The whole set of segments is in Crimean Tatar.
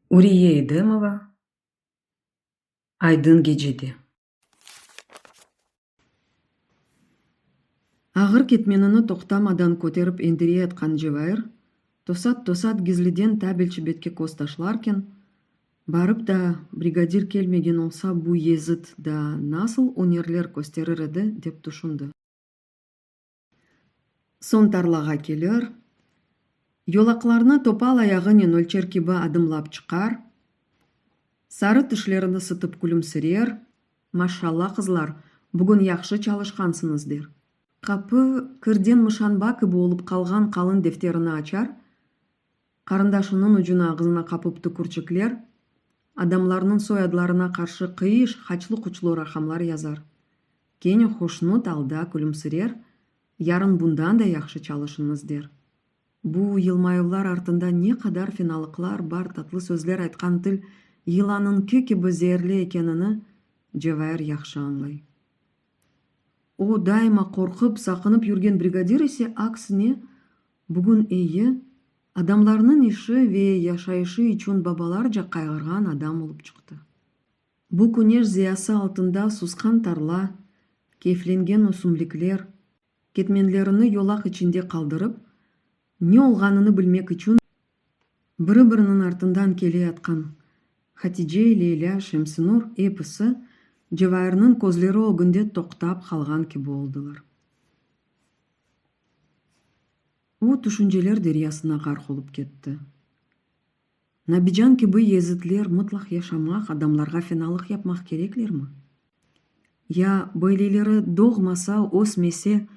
Uriye Edemova, Aydın gecede. Ağır ketmenini toqtamadan köterip endire atqan Cevair, tosat-tosat gizliden tabelçi betke köz taşlarken, Barıp da, brigadir kelmegen olsa, bu yezıt daa nasıl ünerler kösterir edi, dep tüşündi. Soñ tarlağa kelir, yolaqlarnı topal ayağınen ölçer kibi adımlap çıqar, sarı tişlerini sıtıp külümsirer, Maşşalla, qızlar, bugün yahşı çalışqansıñız, der. Qapı kirden mışanba kibi olıp qalğan qalın defterini açar, Qarındaş unıñ ucuna ağzına qapıp tükürçikler, adamlarnıñ soyadlarına qarşı qıyış, haçlı-quçlu raqamlar yazar. Kene hoşnut alda külümsirer, yarın bundan da yahşı çalışıñız der. Bu yılmayuvlar artında ne qadar fenalıqlar bar, tatlı sözler aytqan til yılanıñki kibi zeerli ekenini Cevair yahşı añlay. O, daima qorqıp, saqınıp yürgen brigadir ise, aksine, Bugün eyi, adamlarnıñ işi ve yaşayışı içün babalarca qayğırğan adam olıp çıqtı. Bu küneş ziyası altında susqan tarla, keyflengen ösümlikler, ketmenlerini yolaq içinde qaldırıp, ne olğanını bilmek içün biri-biriniñ artından keleyatqan Hatice, Leyla, Şemsinur, episi Cevairniñ közleri ögünde toqtap qalğan kibi oldılar. O, tüşünceler deryasına ğarq olıp ketti. Nabican kibi yezitler mıtlaq yaşamaq, adamlarğa fenalıq yapmaq kereklermi? Ya böyleleri doğmasa, ösmese,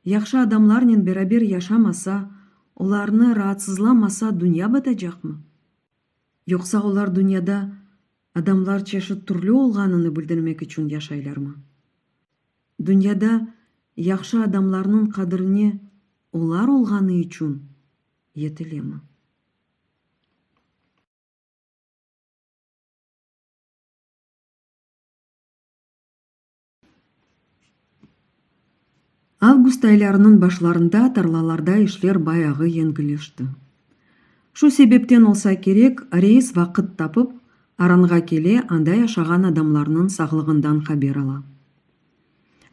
yahşı adamlarnen beraber yaşamasa, olarnı raatsızlamasa dünya batacaqmı? Yoqsa olar dünyada adamlar çeşit türlü olğanını bildirmek içün yaşaylarmı? Dünyada yahşı adamlarnıñ qadirine olar olğanı içün yetilemı? Avgust aylarınıñ başlarında tarlalarda işler bayağı yengilleşti. Şu sebepten olsa kerek, reis vaqıt tapıp, Aranğa kele, anda yaşağan adamlarnıñ sağlığından haber ala.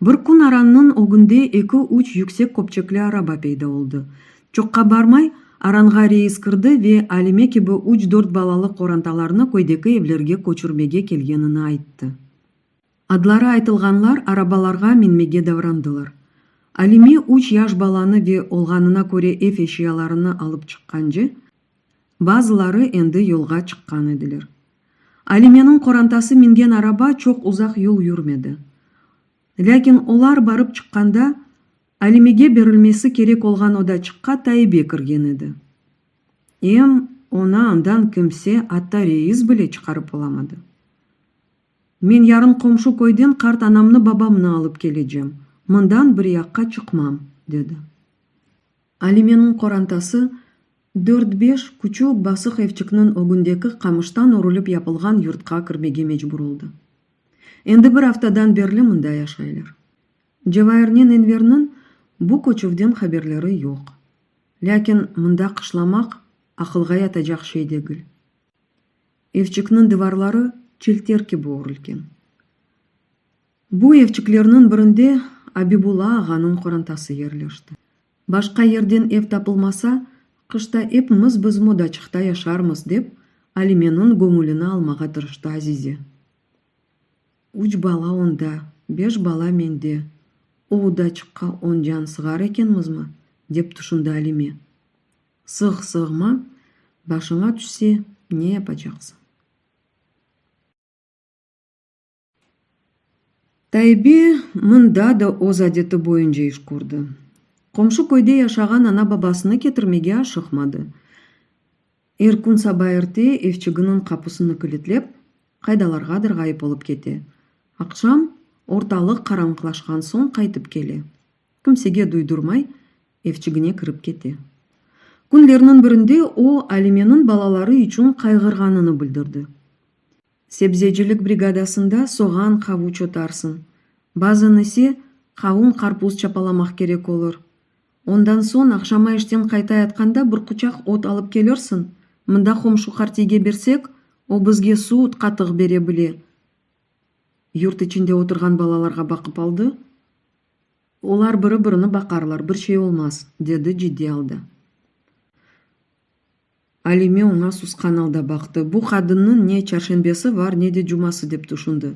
Bir kün Arannıñ ögünde eki-üç yüksek köpçekli araba peyda oldı. Çoqqa barmay, Aranğa reis kirdi ve Alime kibi üç-dört balalı qorantalarnı köydeki evlerge köçürmege kelgenini ayttı. Adları aytılğanlar arabalarğa minmege davrandılar. Alime üç yaş balanı ve olğanına köre ev eşyalarını alıp çıqqance, bazıları endi yolğa çıqqan ediler. Alimeniñ qorantası mingen araba çoq uzaq yol yürmedi. Lâkin olar barıp çıqqanda, Alimege berilmesi kerek olğan odaçıqqa Taibe kirgen edi. Em, onı andan kimse, atta reis bile çıqarıp olamadı. Men yarın qomşu köyden qart anamnı babamnı alıp kelecem, mından bir yaqqa çıqmam, dedi. Alimeniñ qorantası dört-beş küçük basıq evçikniñ ögündeki qamıştan örülip yapılğan yurtqa kirmege mecbur oldı. Endi bir aftadan berli mında yaşaylar. Cevairnen Enverniñ bu köçüvden haberleri yoq. Lâkin mında qışlamaq aqılğa yatacaq şey degil. Evçikniñ divarları çilter kibi ögrilgen. Bu evçiklerniñ birinde Abibulla ağanıñ qorantası yerleşti. Başqa yerden ev tapılmasa, qışta epimiz bizim odaçıqta yaşarmız, dep, Alimeniñ göñülini almağa tırıştı Azize. Üç bala onda, beş bala mende, o odaçıqqa on can sığar ekenmizmi? dep tüşündi Alime. Sığ-sığma, başıña tüşse, ne yapacaqsıñ? Taybi mında da öz adeti boyunca iş kördi. Qomşu köyde yaşağan ana-babasını ketirmege aşıqmadı. Er kün saba erte evçiginiñ qapusını kilitlep, qaydalarğadır ğayıp olıp kete. Aqşam, ortalıq qaranlıqlaşqan soñ qaytıp kele. Kimsege duydurmay, Evçigine kirip kete. Künlerniñ birinde o, Alimeniñ balaları içün qayğırğanını bildirdi. Sebzecilik brigadasında soğan, qavuç otarsıñ. Bazan ise, qavun, qarpuz çapalamaq kerek olur. Ondan soñ, aqşama işten qaytayatqanda bir quçaq ot alıp kelirsiñ, mında qomşu qartiyge bersek, o bizge suut, qatıq bere bile. Yurt içinde oturğan balalarğa baqıp aldı, Olar biri-birini baqarlar, bir şey olmaz, dedi ciddiy alda. Alime oña susqan alda baqtı. Bu qadınnıñ ne çarşenbesi var, ne de cuması, dep tüşündi.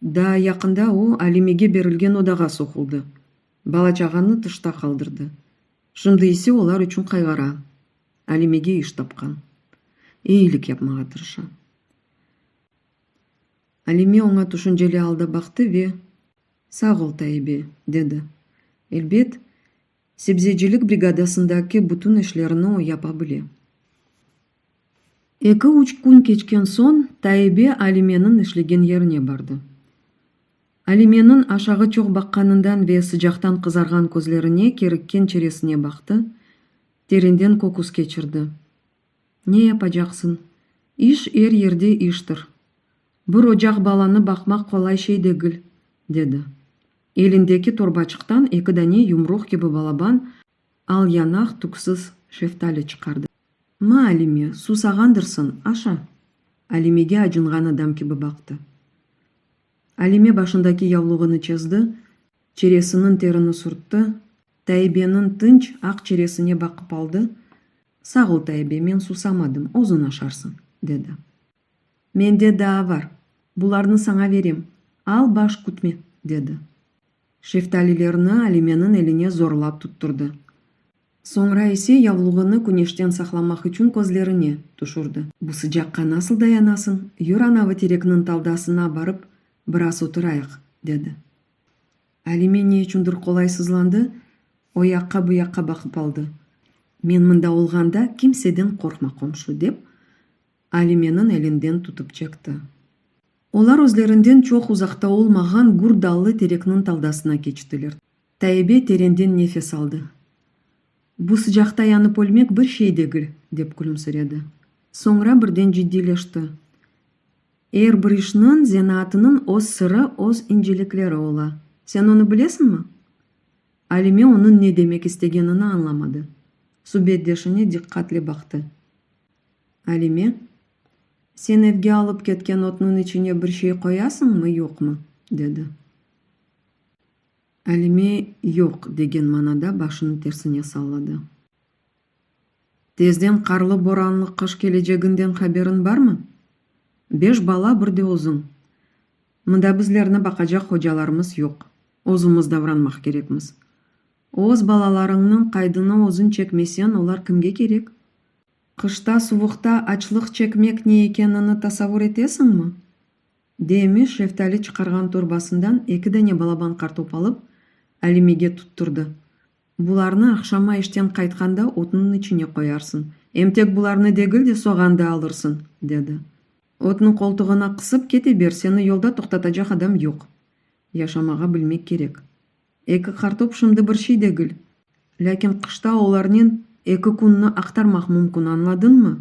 Daa yaqında o, Alimege berilgen odağa soquldı. Bala-çağanı tışta qaldırdı. Şimdi ise olar içün qayğara. Alimege iş tapqan. Eyilik yapmağa tırışa. Alime oña tüşünceli alda baqtı ve. Sağ ol, Taibe, dedi. Elbet, sebzecilik brigadasındaki bütün işlerini o yapa bile. Eki-üç kün keçken soñ Taibe Alimeniñ işlegen yerine bardı. Alimeniñ aşağı çoq baqqanından ve sıcaqtan qızarğan közlerine kerikken çeresine baqtı, terenden köküs keçirdi. Ne yapacaqsıñ? İş er yerde iştir. Bir ocaq balanı baqmaq qolay şey degil, dedi. Elindeki torbaçıqtan eki dane yumruq kibi balaban al yanaq tüksüz şeftali çıqardı. Ma, Alime, susağandırsıñ, aşa! Alimege acınğan adam kibi baqtı. Alime başındaki yavluğını çezdi, çeresiniñ terini sürtti, Taibeniñ tınç aq çeresine baqıp aldı, Sağ ol, Taibe, men susamadım, özüñ aşarsıñ, dedi. Mende daa var, bularnı saña verem, al, baş kütme, dedi. Şeftalilerni Alimeniñ eline zorlap tutturdı. Soñra ise yavluğını küneşten saqlamaq içün közlerine tüşürdi. Bu sıcaqqa nasıl dayanasıñ, yür anavı terekniñ taldasına barıp biraz oturayıq, dedi. Alime ne içündir qolaysızlandı, o yaqqa, bu yaqqa baqıp aldı. Men mında olğanda, kimseden qorqma, qomşu, dep, Alimeniñ elinden tutıp çekti. Olar özlerinden çoq uzaqta olmağan gür dallı terekniñ taldasına keçtiler. Taibe terenden nefes aldı. Bu sıcaqta yanıp ölmek bir şey degil, dep külümsiredi. Soñra birden ciddiyleşti. Er bir işniñ, zenaatınıñ öz sırı, öz incelikleri ola. Sen onı bilesiñmi? Alime onıñ ne demek istegenini añlamadı. Subetdeşine diqqatle baqtı. Alime, sen evge alıp ketken otnıñ içine bir şey qoyasıñmı, yoqmı? dedi. Alime yoq degen manada başını tersine salladı. Tezden qarlı-boranlı qış keleceginden haberiñ barmı? Beş bala, bir de özüñ. Mında bizlerni baqacaq hocalarımız yoq, özümiz davranmaq kerekmiz. Öz balalarıñnıñ qaydını özüñ çekmesen, olar kimge kerek? Qışta, suvuqta açlıq çekmek ne ekenini tasavur etesiñmi? Demiş, şeftali çıqarğan torbasından eki dane balaban qartop alıp, Alimege tutturdı. Bularnı aqşama işten qaytqanda otnıñ içine qoyarsıñ, em tek bularnı degil de, soğan da alırsıñ, dedi. Otnı qoltuğına qısıp kete ber, seni yolda toqtatacaq adam yoq. Yaşamağa bilmek kerek. Eki qartop şimdi bir şey degil, lâkin qışta olarnen eki künnı aqtarmaq mümkün, añladıñmı?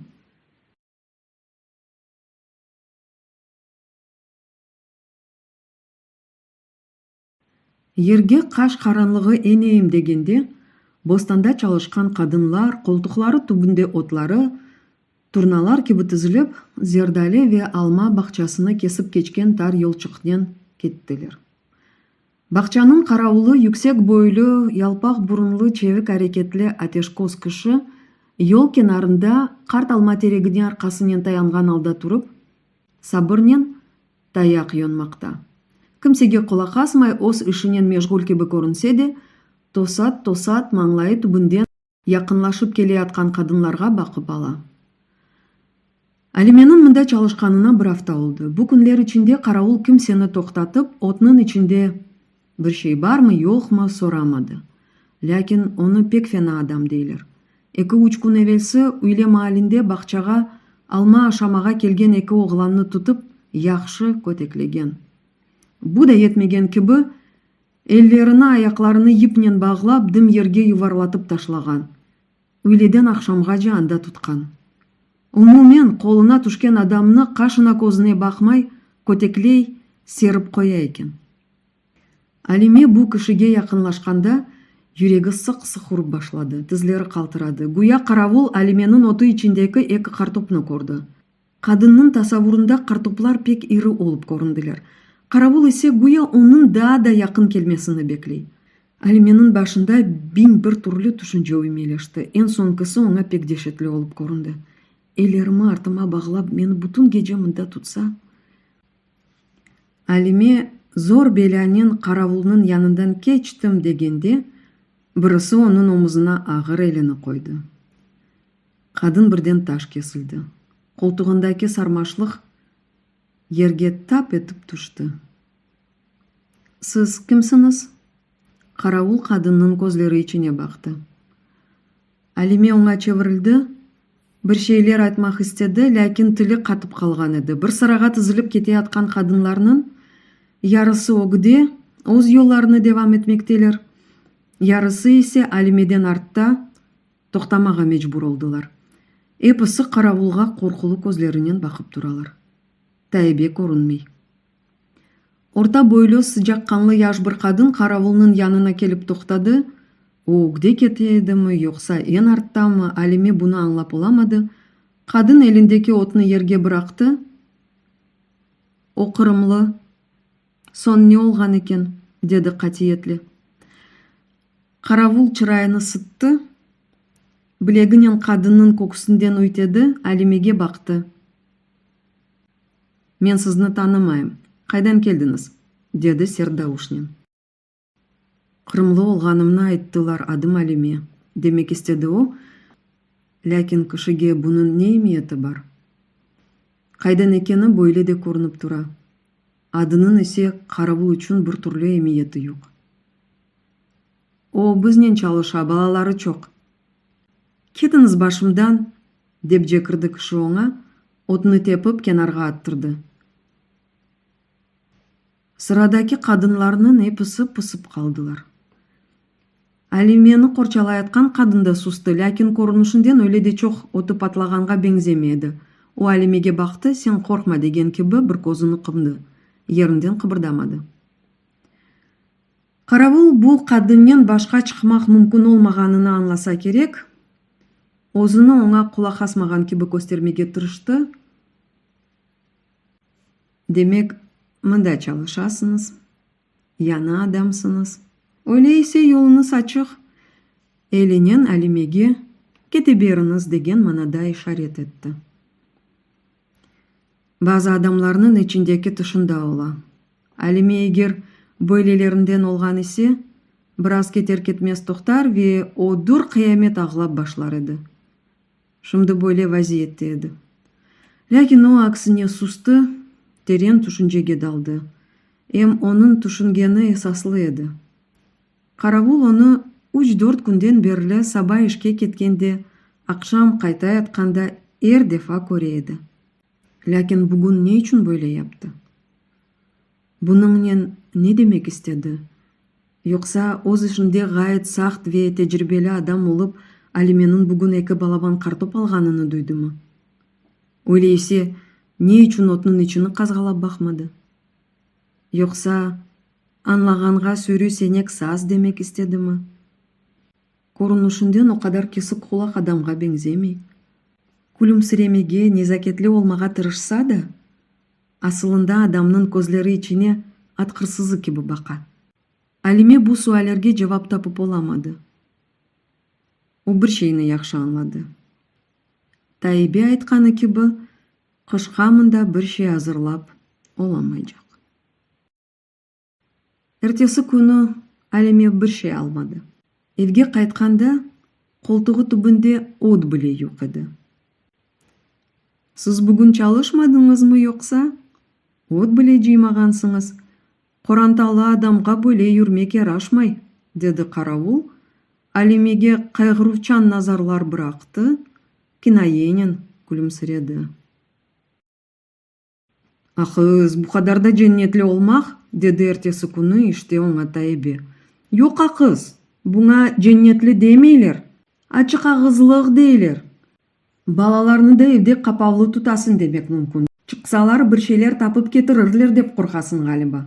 Yerge qaş qaranlığı eneyim degende, bostanda çalışqan qadınlar, qoltuqları tübünde otları, turnalar kibi tizilip, zerdali ve alma bağçasını kesip keçken tar yolçıqnen kettiler. Bağçanıñ qaravulı, yüksek boylu, yalpaq burunlı, çevik areketli ateşkoz kişi, yol kenarında qart alma teregine arqasınen tayanğan alda turıp, sabırnen Tayaq yonmaqta. Kimsege qulaq asmay öz işinen meşğul kibi körünse de, tosat-tosat mañlayı tübünden yaqınlaşıp keleyatqan qadınlarğa baqıp ala. Alimeniñ mında çalışqanına bir afta oldı. Bu künler içinde qaravul kimseni toqtatıp, otnıñ içinde. Bir şey barmı, yoqmı, soramadı. Lâkin onı pek fena adam deyler. Eki-üç kün evelsi üyle maalinde bağçağa alma aşamağa kelgen eki oğlannı tutıp, yahşı köteklegen. Bu da yetmegen kibi, ellerini, ayaqlarını yipnen bağlap, dım yerge yuvarlatıp taşlağan. Üyleden aqşamğace anda tutqan. Umumen, qoluna tüşken adamnı qaşına-közüne baqmay, kötekley, serip qoya eken. Alime bu kişige yaqınlaşqanda yüregi sıq-sıq urıp başladı, tizleri qaltıradı. Güya qaravul Alimeniñ otu içindeki eki qartopnı kördi. Qadınnıñ tasavurında qartoplar pek iri olıp köründiler. Qaravul ise güya onıñ daa da yaqın kelmesini bekley. Alimeniñ başında biñ bir türlü tüşünce üymeleşti. Eñ soñkisi oña pek deşetli olıp köründi. Ellerimi artıma bağlap, meni bütün gece mında tutsa? Alime zor belânen qaravulnıñ yanından keçtim degende, birisi onıñ omuzına ağır elini qoydı. Qadın birden taş kesildi. Qoltuğındaki sarmaşlıq yerge tap etip tüşti. Siz kimsiñiz? Qaravul qadınnıñ közleri içine baqtı. Alime oña çevirildi, bir şeyler aytmaq istedi, lâkin tili qatıp qalğan edi. Bir sırağa tizilip keteyatqan qadınlarnıñ yarısı ögüde, öz yollarını devam etmekteler, yarısı ise Alimeden artta, toqtamağa mecbur oldılar. Episi qaravulğa qorqulu közlerinen baqıp turalar. Taibe körünmey. Orta boylu, sıcaqqanlı yaş bir qadın qaravulnıñ yanına kelip toqtadı. O ögde kete edimi, yoqsa eñ arttamı, Alime bunı añlap olamadı. Qadın elindeki otnı yerge bıraqtı. O qırımlı. Soñ ne olğan eken? dedi qatiyetle. Qaravul çırayını sıttı, bileginen qadınnıñ köksünden üytedi, Alimege baqtı. Men sizni tanımayım, qaydan keldiñiz? dedi sert davuşnen. Qırımlı olğanımnı ayttılar, adım Alime, demek istedi o, lâkin kişige bunıñ ne emiyeti bar? Qaydan ekeni böyle de körünip tura, adınıñ ise qaravul içün bir türlü emiyeti yoq. O, biznen çalışa, balaları çoq. Ketiñiz başımdan! Dep cekirdi kişi oña, otnı tepip kenarğa attırdı. Sıradaki qadınlarnıñ episi pısıp qaldılar. Alimeni qorçalayatqan qadın da sustı, lâkin körünişinden öyle de çoq ötü patlağanğa beñzemey edi. O Alimege baqtı, sen qorqma degen kibi bir közüni qımdı, yerinden qıbırdamadı. Qaravul bu qadınnen başqa çıqmaq mümkün olmağanını añlasa kerek, özüni oña qulaq asmağan kibi köstermege tırıştı, Demek, mında çalışasıñız, yañı adamsıñız, öyle ise yoluñız açıq, elinen Alimege, Kete beriñiz, degen manada işaret etti. Bazı adamlarnıñ içindeki tışında ola. Alime eger böylelerinden olğan ise, biraz keter-ketmez toqtar ve o dür qıyamet ağlap başlar edi. Şimdi böyle vaziyette edi. Lâkin o, aksine, sustı, teren tüşüncege daldı. Em onıñ tüşüngeni esaslı edi. Qaravul onı üç-dört künden berli saba işke ketken de, aqşam qayta yatqanda er defa köre edi. Lâkin bugün ne içün böyle yaptı? Bunıñnen ne demek istedi? Yoqsa, öz işinde ğayet saqt ve tecribeli adam olıp, Alimeniñ bugün eki balaban qartop alğanını duydımı? Öyle ise, ne içün otnıñ içini qazğalap baqmadı? Yoqsa, añlağanğa sürü senek saz demek istedimi? Körünüşinden o qadar kesik qulaq adamğa beñzemey. Külümsiremege, nezaketli olmağa tırışsa da, asılında adamnıñ közleri içine at hırsızı kibi baqa. Alime bu suallerge cevap tapıp olamadı. O bir şeyni yahşı añladı. Taibe aytqanı kibi, Qışqa mında bir şey azırlap olamaycaq. Ertesi künü Alime bir şey almadı. Evge qaytqanda qoltuğı tübünde ot bile yoq edi. Siz bugün çalışmadıñızmı yoqsa? Ot bile cıymağansıñız, Qorantalı adamğa böyle yürmek yaraşmay, dedi qaravul, Alimege qayğıruvçan nazarlar bıraqtı, kinayenen külümsiredi. Aqız, bu qadar da cennetli olmaq? dedi ertesi künü işte oña Taibe. Yoq, aqız, buña cennetli demeyler, açıqağızlıq deyler. Balalarnı da evde qapavlı tutasıñ demek mümkün. Çıqsalar, bir şeyler tapıp ketirirler dep qorqasıñ ğaliba.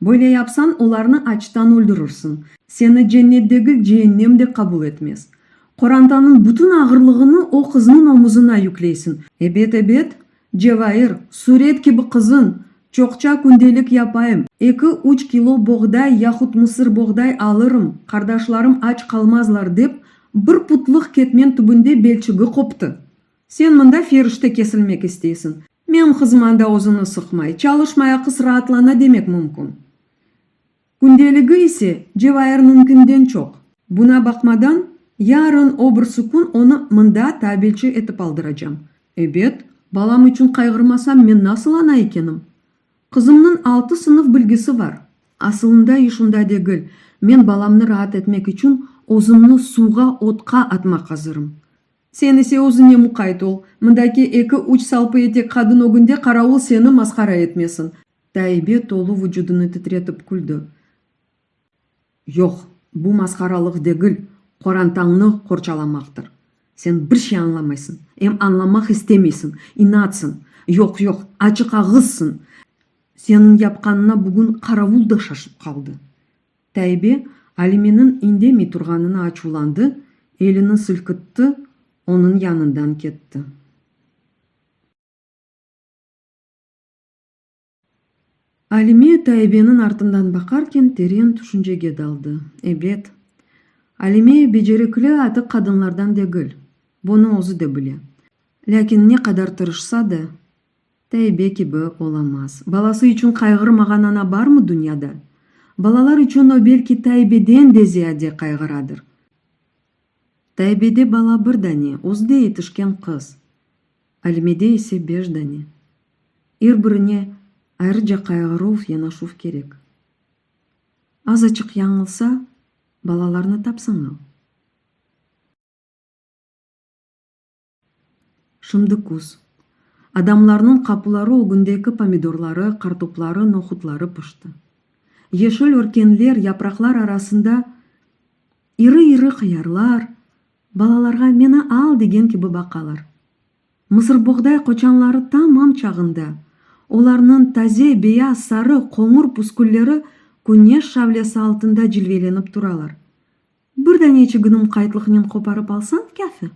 Böyle yapsañ, olarnı açtan öldürirsiñ. Seni cennetdegi ceennem de qabul etmez. Qorantanıñ bütün ağırlığını o qıznıñ omuzına yükleysiñ. Ebet, ebet, Cevahir, suret kibi qızın, çoqça kündelik yapayım, eki, üç kilo boğday yahut mısır boğday alırım, qardaşlarım aç qalmazlar, dep, bir putlıq ketmen tübünde belçigi qoptı. Sen mında ferişte kesilmek isteysiñ, meñim qızım anda özüni sıqmay, çalışmay aqıs raatlana demek mümkün. Kündeligi ise Cevayır mümkünden çoq. Buna baqmadan, yarın öbürsü kün onı mında tabelçi etip aldıracam. Ebet, balam içün qayğırmasam men nasıl ana ekenim? Qızımnıñ altı sınıf bilgisi var. Asılında iş unda degil, men balamnı raat etmek içün özümni suvğa, otqa atmaq azırım. Sen ise özüñe muqayt ol, mındaki eki-üç salpı etek qadın ögünde qaravul seni masqara etmesin. Taibe tolu vucudını titretip küldi. Yoq, bu masqaralıq degil, qorantañnı qorçalamaqtır. Sen bir şey añlamaysıñ, em añlamaq istemeysiñ, inatsıñ, yoq-yoq, açıqağızsıñ. Seniñ yapqanına bugün qaravul da şaşıp qaldı. Taibe Alimeniñ indemey turğanına açuvlandı, elini silkitti, onıñ yanından ketti. Alime Taibeniñ artından baqarken teren tüşüncege daldı. Ebet, Alime becerikli atık qadınlardan degil, bunı özü de bile. Lâkin ne qadar tırışsa da, Taibe kibi olamaz. Balası içün qayğırmağan ana barmı dünyada? Balalar içün o belki Taibeden de ziyade qayğıradır. Taibede bala bir dane, özü de yetişken qız. Alimede ise beş dane. Er birine ayrıca qayğıruv, yanaşuv kerek. Azaçıq yañılsa, balalarnı tapsañ al. Şimdi küz. Adamlarnıñ qapuları ögündeki pomidorları, qartopları, nohutları pişti. Yeşil örkenler, yapraqlar arasında iri-iri qıyarlar, Balalarğa meni al degen kibi baqalar. Mısırboğday qoçanları tamam çağında, olarnıñ taze, beyaz, sarı, qoñur püskülleri küneş şavlesi altında cilvelenip turalar. Bir dane çiginim qaytlıqnen qoparıp alsañ, kâfi.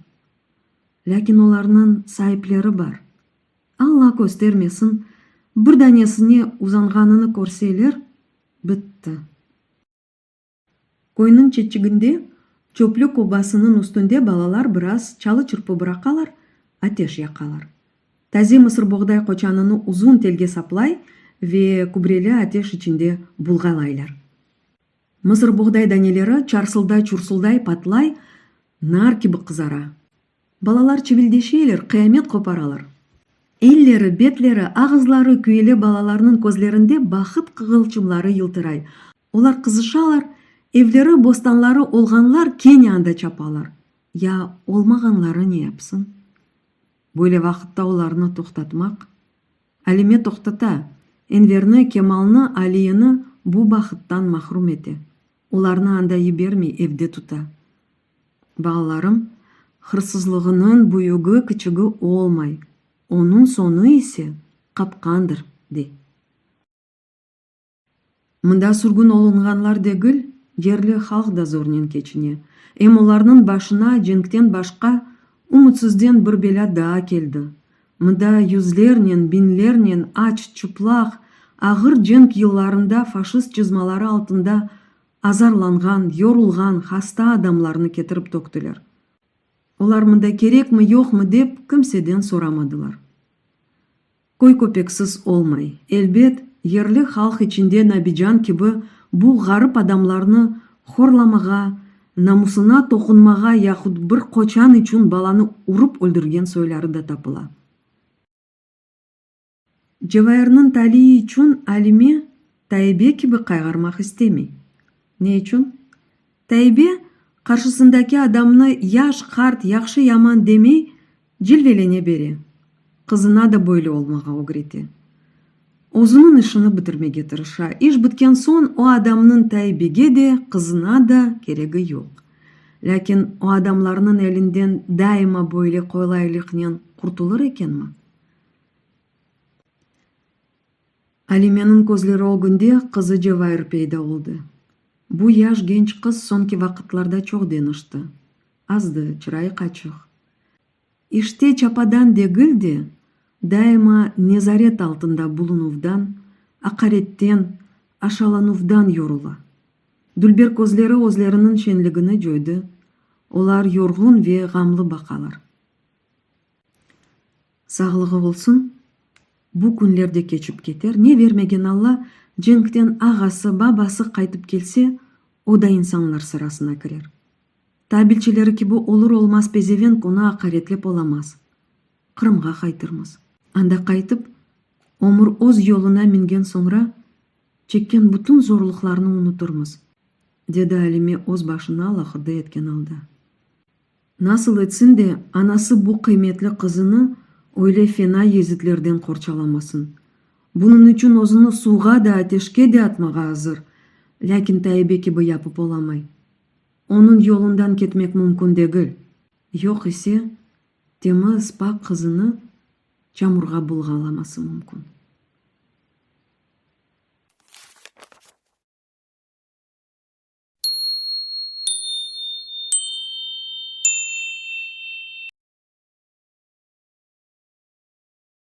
Lâkin olarnıñ saipleri bar. Alla köstermesin, bir danesine uzanğanını körseler, bitti. Köyniñ çetçiginde çöplük obasınıñ üstünde balalar biraz çalı-çırpı bıraqalar, ateş yaqalar. Taze mısır boğday qoçanını uzun telge saplay ve kübreli ateş içinde bulğalaylar. Mısır boğday daneleri çarsılday-çursulday patlay, nar kibi qızara. Balalar çivildeşeyler, qıyamet qoparalar. Elleri, betleri, ağızları küyele balalarnıñ közlerinde bahıt qığılçımları yıltıray. Olar qızışalar, evleri, bostanları olğanlar kene anda çapalar, ya olmağanları ne yapsın? Böyle vaqıtta olarnı toqtatmaq? Alime toqtata, Enverni, Kemalnı, Aliyini bu bahıttan mahrum ete, olarnı anda yibermey, evde tuta. Balalarım, hırsızlığınıñ büyügi, kiçigi olmay, onıñ soñu ise qapqandır, dey. Mında sürgün olunğanlar degil, yerli halq da zornen keçine. Em olarnıñ başına cenkten başqa ümütsizden bir belâ daa keldi. Mında yüzlernen, biñlernen aç, çıplaq, ağır cenk yıllarında faşist cızmaları altında azarlanğan, yorulğan, hasta adamlarnı ketirip töktüler. Olar mında kerekmi, yoqmı dep kimseden soramadılar. Köy köpeksiz olmay. Elbet, yerli halq içinde Nabican kibi bu ğarip adamlarnı horlamağa, namusına toqunmağa yahut bir qoçan içün balanı urıp öldürgen soyları da tapıla. Cevairniñ taliyi içün Alime Taibe kibi qayğarmaq istemey. Ne içün? Taibe, qarşısındaki adamnı yaş, qart, yahşı, yaman demey, Cilvelene bere, qızına da böyle olmağa ögrete. Özüniñ işini bitirmege tırışa. İş bitken soñ o adamnıñ Taybege de, qızına da keregi yoq. Lâkin o adamlarnıñ elinden daima böyle qolaylıqnen qurtulır ekenmi? Alimeniñ közleri ögünde qızı Cevahir peyda oldı. Bu yaş genç qız soñki vaqıtlarda çoq deñişti. Azdı, çırayı qaçıq. İşte çapadan degil de, daima nezaret altında bulunuvdan, aqaretten, aşalanuvdan yorula. Dülber közleri özleriniñ şenligini coydı, olar yorğun ve ğamlı baqalar. Sağlığı olsun, bu künler de keçip keter. Ne vermegen Alla, cenkten ağası, babası qaytıp kelse, o da insanlar sırasına kirer. Tabilçileri kibi olur-olmaz pezevenk onı aqaretlep olamaz. Qırımğa qaytırmız. Anda qaytıp, ömür öz yoluna mingen soñra, çekken bütün zorluqlarnı unutırmız, dedi Alime öz başını alahuda etken alda. Nasıl etsin de, anası bu qıymetli qızını öyle fena yezitlerden qorçalamasın? Bunıñ içün özüni suvğa da, ateşke de atmağa azır, lâkin Taibe kibi yapıp olamay. Onıñ yolundan ketmek mümkün degil. Yoq ise, temiz, pak qızını çamurğa bulğalaması mümkün.